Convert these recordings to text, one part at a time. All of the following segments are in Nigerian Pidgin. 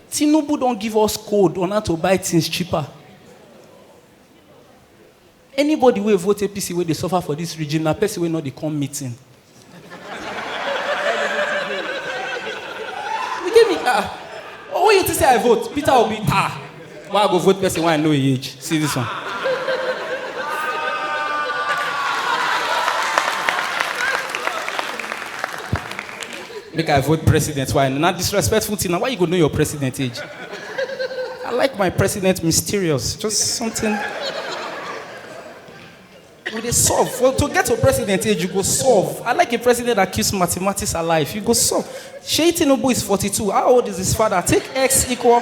Tinubu don give us code on how to buy things cheaper. Anybody wey vote APC wey dey suffer for this regime na person wey no dey come meeting. You get me? Ah, oh, when you think say I vote, Peter Obi, ah, why I go vote person wey I know him age? See this one. Make I vote president. Why? Not disrespectful thing. Now, why you go know your president age? I like my president mysterious. Just something. We dey solve. Well, to get to president age, you go solve. I like a president that keeps mathematics alive. You go solve. Shey Tinubu is 42. How old is his father? Take X equal.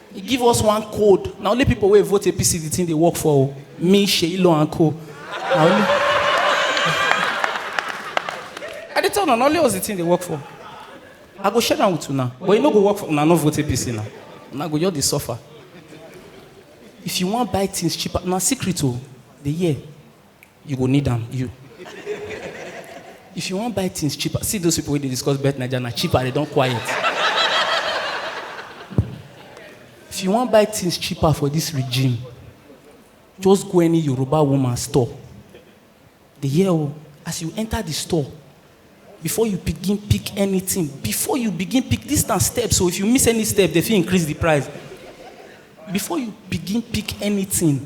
He give us one code. Na only people wey vote APC the thing dey work for o. Me, Seyi Law and co. Na only. I dey tell una na only us the thing dey work for. I go share am with una but e no go work for una no vote APC na. Una go just dey suffer. If you wan buy things cheaper, na secret o. Dey hear. You go need am, you. If you wan buy things cheaper, see those people wey dey discuss bet naija na cheaper, they don quiet. If you wan buy things cheaper for this regime, just go any Yoruba woman store. Dey hear o, as you enter the store, before you begin pick anything, before you begin pick, this na steps o, if you miss any step, they fit increase the price. Before you begin pick anything,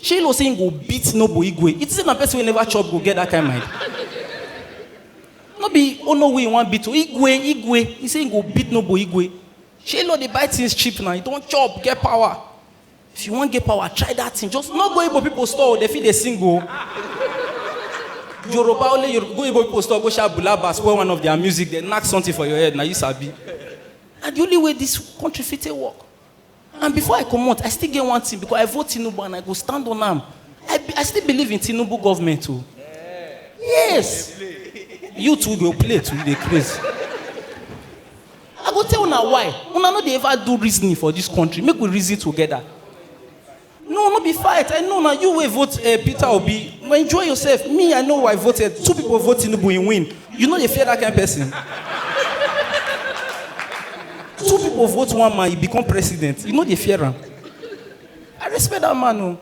Shey you know say him go beat Noble Igwe? You think say na person wey never chop go get that kind mind? No be Onowu he wan beat o, Igwe, Igwe. He say he go beat Noble Igwe. Shey you know dey buy things cheap na, you don chop, get power. If you wan get power, try that thing. Just no go Igbo people store o, they fit dey sing o. Yoruba only Yoruba, go Igbo people store, go shout Bulaba, spoil one of their music, they knack something for your head, na you sabi. Na the only way this country fit take work. And before I comot, I still get one thing because I vote Tinubu and I go stand on am. I, be- I still believe in Tinubu government o. Yes. You too go play too, you dey craze. I go tell una why. Una no dey ever do reasoning for this country. Make we reason together. no no be fight i know na you wey vote eh, peter obi enjoy yourself me i know who i voted two people vote tinubu he win you no dey fear that kind person two people vote one man he become president you no dey fear am i respect that man o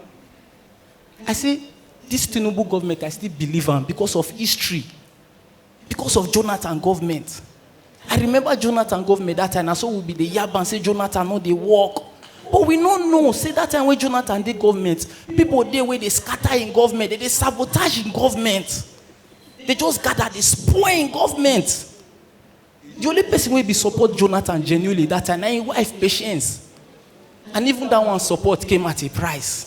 i say this tinubu government i still believe am because of history Because of Jonathan government. I remember Jonathan government that time, and so we be the yab and say Jonathan no dey work. But we no know, say that time when Jonathan dey government, people dey where they scatter in government, they dey sabotage in government. They just gather, they spoil in government. The only person wey be support Jonathan genuinely that time na him wife Patience. And even that one support came at a price.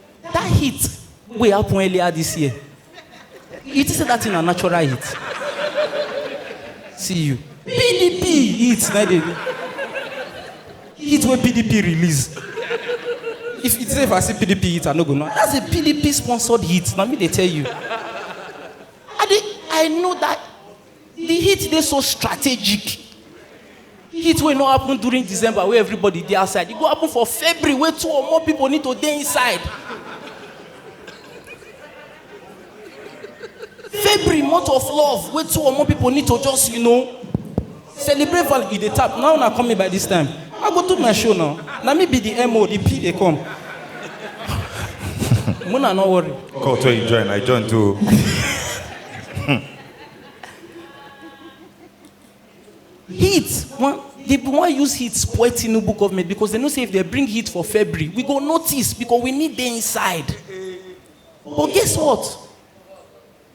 That heat wey happen earlier this year, you think say that thing na natural heat? See you. PDP heat na dey heat wey PDP release. If you say if I see PDP heat, I no go know. That's a PDP sponsored heat. Na me dey tell you. I dey I know that The heat dey so strategic. Heat wey no happen during December wey everybody dey outside, e go happen for February wey two or more people need to dey inside. February month of love wey two or more people need to just you know celebrate value e dey tap now una come me by this time I go do my show now na me be the MO the P dey come Muna no worry. Cult wey you join, I join too. heat one they wan use heat spoil tinubu government because they know say if they bring heat for february we go notice because we need dey inside but guess what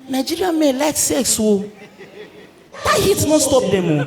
nigerian men like sex o that heat no stop them o.